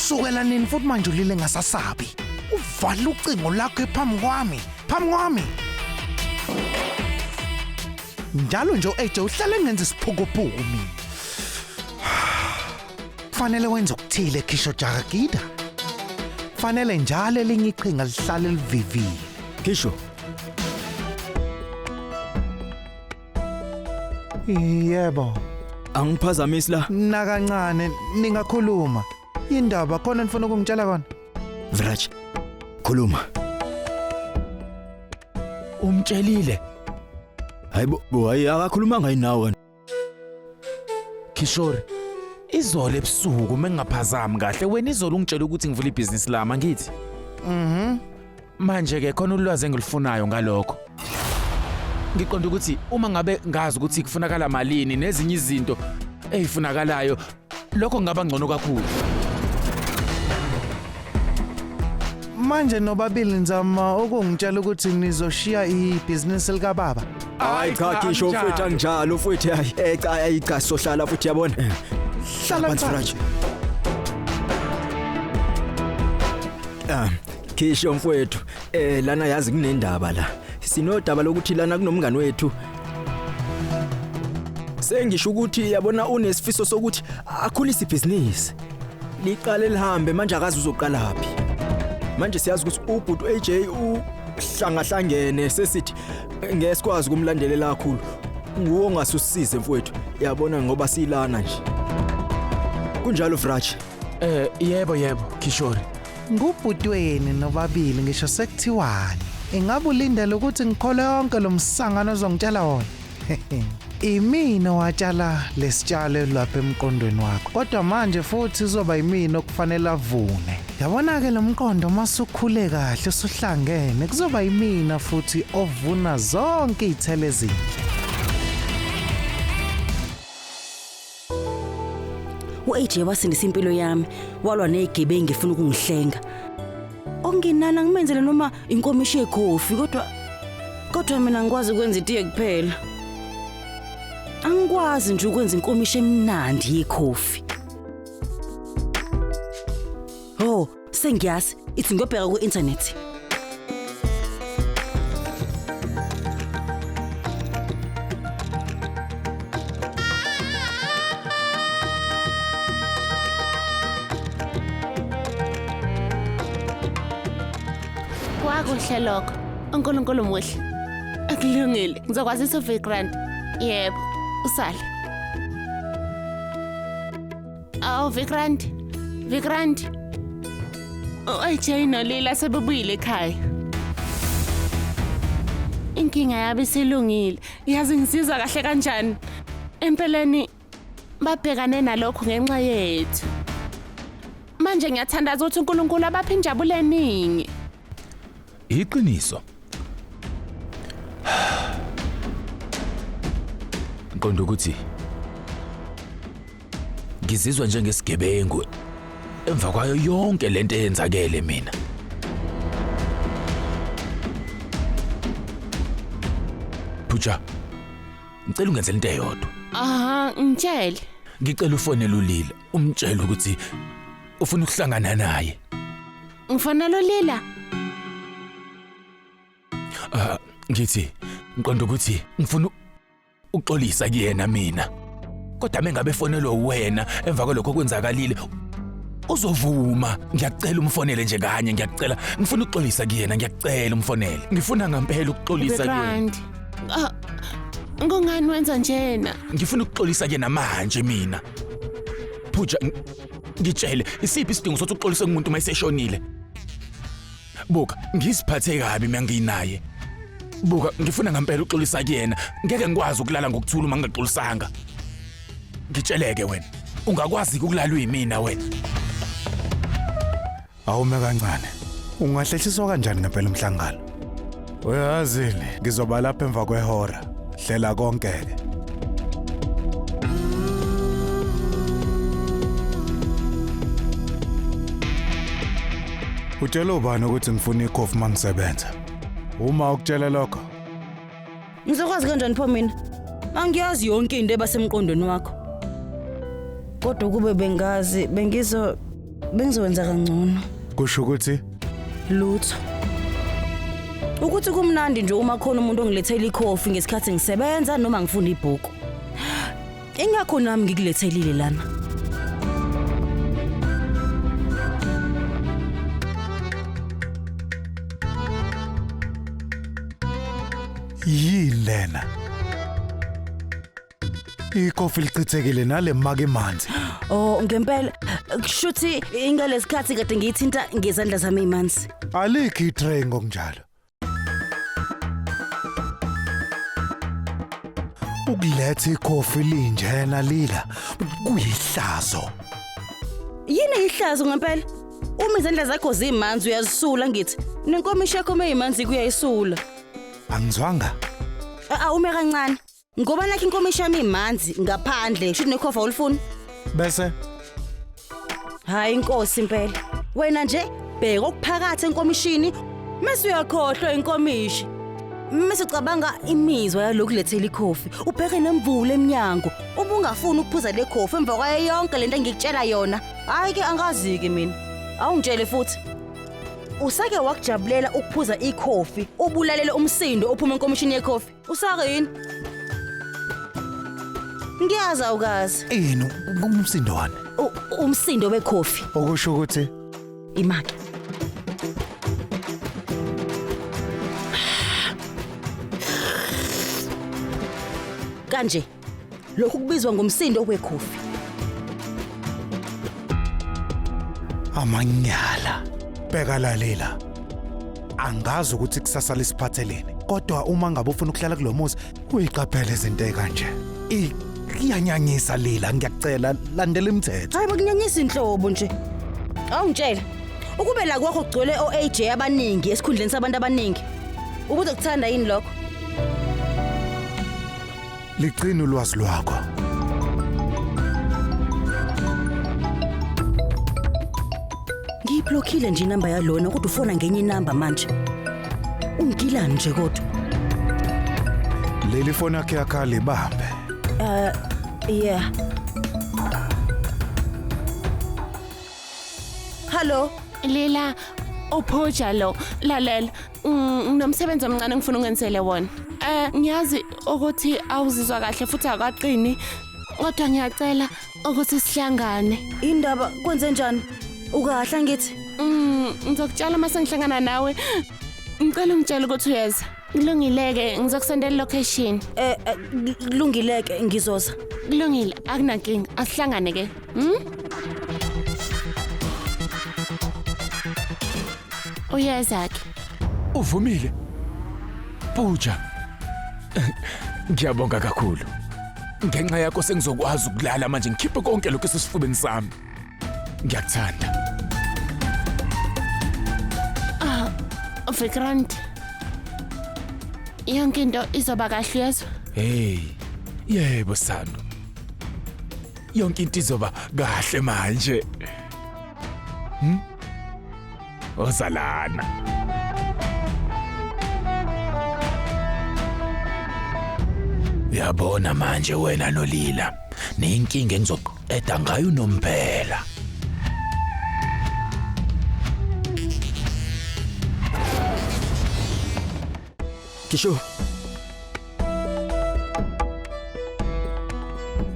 Sukela nini futhi manje ulile ngasasabi? Uvala ucingo lakho phambi kwami, phambi kwami. Njalo nje uAJ uhlale ngenza isiphukuphuku mina. Fanele wenze ukuthile Kisho Jagagida. Fanele njalo elinye iqhinga lihlale livivile. Kisho, Yebo, Angiphazamisi la. nakancane ningakhuluma. Indaba khona nifuna ukungitshela kona? Viraj, khuluma. Umtshelile. Hayibo, bo hayi akakhulumanga yini nawe. Kishori. Izolo ebusuku mengingaphazami kahle wena izolo ungitshela ukuthi ngivula ibhizinisi lami angithi. Mhm. Manje ke khona ulwazi engilufunayo ngalokho. Ngiqonda ukuthi uma ngabe ngazi ukuthi kufunakala malini nezinye izinto ezifunakalayo lokho ngaba ngcono kakhulu. Manje nobabili nizama ukungitshela ukuthi nizoshiya ibhizinisi likababa. Hayi cha kisho anjalo. futhi anjalo futhi hayi eh cha hayi cha sohlala futhi yabona. Eh, Hlala phansi. Suraj. Ah, Kisho mfwethu, eh lana yazi kunendaba la. Sinodaba lokuthi lana kunomngani wethu. Sengisho ukuthi yabona unesifiso sokuthi akhulise ibhizinisi. Liqale lihambe manje akazi uzoqala phi. Manje siyazi ukuthi ubhuti AJ uhlangahlangene sesithi ngeke sikwazi kumlandelela kakhulu. Nguwe ongasisize mfwethu. Yabona ngoba silana nje. Kunjalo Vrach, Eh yebo yebo Kishori. Ngubhutweni nobabili ngisho sekuthiwani. Ingabe ulindele ukuthi ngikhole yonke lo msangano ozongitshela wona? Imina owatshala lesitshalo lapha emqondweni wakho. Kodwa manje futhi uzoba yimina okufanele avune. Yabona ke lomqondo uma sukhule kahle usuhlangene kuzoba yimina futhi ovuna zonke izithelo ezinhle. u-aj wasindisa impilo yami walwa ney'gebengi efuna ukungihlenga okungenani angimenzele noma inkomishi yekhofi kodwa kodwa mina ngikwazi ukwenza itiye kuphela angikwazi nje ukwenza inkomishi emnandi yekhofi Sengiyazi, ithi ngiyobheka ku-internet. Kwakuhle lokho. UNkulunkulu muhle. Akulungile. Ngizokwazisa uVikrant. Yebo, usale. Awu Vikrant, Vikrant. U-AJ noLila sebebuyile ekhaya. Inkinga yabo isilungile. Yazi ngisizwa kahle kanjani? Empeleni babhekane nalokhu ngenxa yethu. Manje ngiyathandaza ukuthi uNkulunkulu abaphe injabulo eningi. Iqiniso. Ngiqonda ukuthi ngizizwa njengesigebengu emva kwayo yonke lento eyenzakele mina. Phuja. Ngicela ungenzele into eyodwa. Aha, ngitshele. Ngicela ufonele ulila, umtshele ukuthi ufuna ukuhlangana naye. Ngifana lo Lila. Ah, ngithi ngiqonda ukuthi ngifuna uxolisa kuyena mina. Kodwa mengabe fonelwe wena emva kwalokho kwenzakalile uzovuma ngiyakucela umfonele nje kanye ngiyakucela ngifuna ukuxolisa kuyena ngiyakucela umfonele ngifuna ngampela ukuxolisa kuyena ah, ngongani wenza njena ngifuna ukuxolisa kuyena manje mina phuja Ngitshele, isiphi isidingo sothi uxolise umuntu uma eseshonile? Buka, ngiziphathe kabi mina nginaye. Buka, ngifuna ngempela uxolisa kuyena. Ngeke ngikwazi ukulala ngokuthula uma ngingaxolisanga. Ngitsheleke wena, ungakwazi ukulalwa yimina wena. Awume kancane. Ungahlehliswa kanjani ngempela umhlangano? Uyazini, ngizoba lapha emva kwehora. Hlela konke-ke. Utshela ubani ukuthi ngifuna ikhofi uma ngisebenza? Uma ukutshela lokho, Ngizokwazi kanjani pho mina? Angiyazi yonke into ebasemqondweni wakho. Kodwa ukube bengazi bengizo bengizowenza kangcono. Kusho ukuthi Lutho. Ukuthi kumnandi nje uma khona umuntu ongilethela ikhofi ngesikhathi ngisebenza noma ngifunda ibhuku. Ingakho nami ngikulethelile lana. Yini lena? Ikofi lichithekile nale maka emanzi. Oh ngempela kushuthi ingalesikhathi kade ngiyithinta ngezandla zami imanzi. Alikho itray ngokunjalo. Ukuletha ikhofi linjena lila kuyihlazo. Yini ihlazo ngempela? Uma izandla zakho zimanzi uyazisula ngithi. Nenkomishi yakho meyimanzi kuyayisula. Angizwanga? Awume kancane. Ngoba nakho inkomishi yami imanzi ngaphandle, shuthi nekhova ulifuna. Bese Hayi inkosi impela. Wena nje bheka okuphakathi enkomishini mase uyakhohlwa inkomishi. Mase ucabanga imizwa yalokhu lethela ikhofi. Ubheke nemvula eminyango. Ubungafuni ukuphuza le khofi emva kwayo yonke lento engikutshela yona. Hayi ke angazi ke mina. Awungitshele futhi. Usake wakujabulela ukuphuza ikhofi, ubulalele umsindo ophuma enkomishini yekhofi. Usakini. Ngiyazi awukazi. Yini umsindo wani? U- Umsindo wekhofi Okusho ukuthi imake. Kanje. lokhu kubizwa ngomsindo wekhofi amanyala bheka lalela angazi ukuthi kusasa lisiphatheleni kodwa uma ngabe ufuna ukuhlala kulo muzi uyiqaphele izinto ekanje iyanyanyisa lila ngiyacela landela imithetho hayi bakunyanyisa inhlobo nje awungitshela ukube la kwakho kugcwele o-aj abaningi esikhundleni sabantu abaningi ubuzokuthanda yini lokho Ligcina ulwazi lwakho. Ngiyiblockile nje inamba yalona kodwa ufona ngenye inamba manje. Ungilani nje kodwa? Leli foni yakhe yakhale bambe. Yeah. Hello. Lela ophoja lo lalela Mm, nginomsebenzi omncane engifuna ungenzele wona eh ngiyazi ukuthi awuzizwa kahle futhi akaqini kodwa ngiyacela ukuthi sihlangane Indaba kwenze njani? Ukahle ngithi. Mm, ngizokutshela uma sengihlangana nawe ngicela ungitshele ukuthi uyeza kulungileke ngizokusendela ilocation Eh eh, kulungileke ngizoza. kulungile akunankinga asihlangane ke Hmm? Uyeza-ke. Uvumile. Pooja. Ngiyabonga kakhulu. Ngenxa yakho sengizokwazi ukulala manje ngikhiphe konke lokho esesifubeni sami. Ngiyakuthanda. Ah, Vikrant. Yonke into izoba kahle yezwa. Hey. Yebo Sandu. yonke into izoba kahle manje hmm? ozalana yabona manje wena nolila niyinkinga engizoqeda ngayo unomphela Kisho.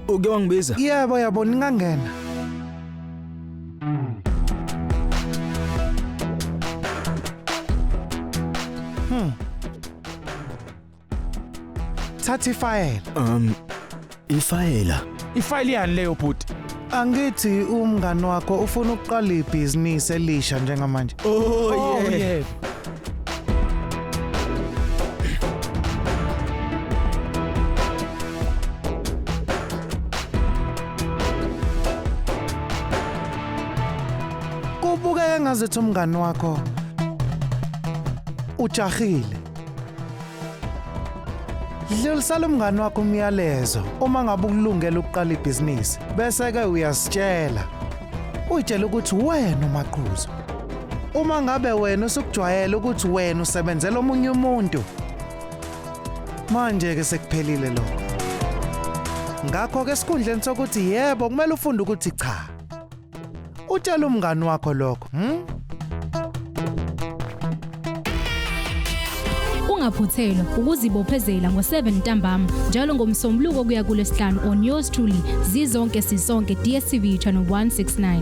Uke wangibiza? Yebo yabo ningangena. Hmm. Thatha ifayela. Um Ifayela. Ifayela yani leyo bhuti? Angithi umngani wakho ufuna ukuqala ibhizinisi elisha njengamanje. Oh, oh yeah. yeah. Kubukeka ngazethi umngani wakho ujahile. Dlulisela umngani wakho umyalezo uma ngabe ukulungela ukuqala ibhizinisi bese ke uyasitshela. Uyitshela ukuthi wena umaqhuzu. Uma ngabe wena usukujwayela ukuthi wena usebenzela omunye umuntu. Manje ke sekuphelile lokho. Ngakho ke esikhundleni sokuthi yebo kumele ufunde ukuthi cha. Utshela umngani wakho lokho, hm? Ungaphuthelwa ukuzibophezela ngo-7 ntambama njalo ngomsombuluko kuya kulesihlanu on yours truly zizonke sisonke DSTV channel 169.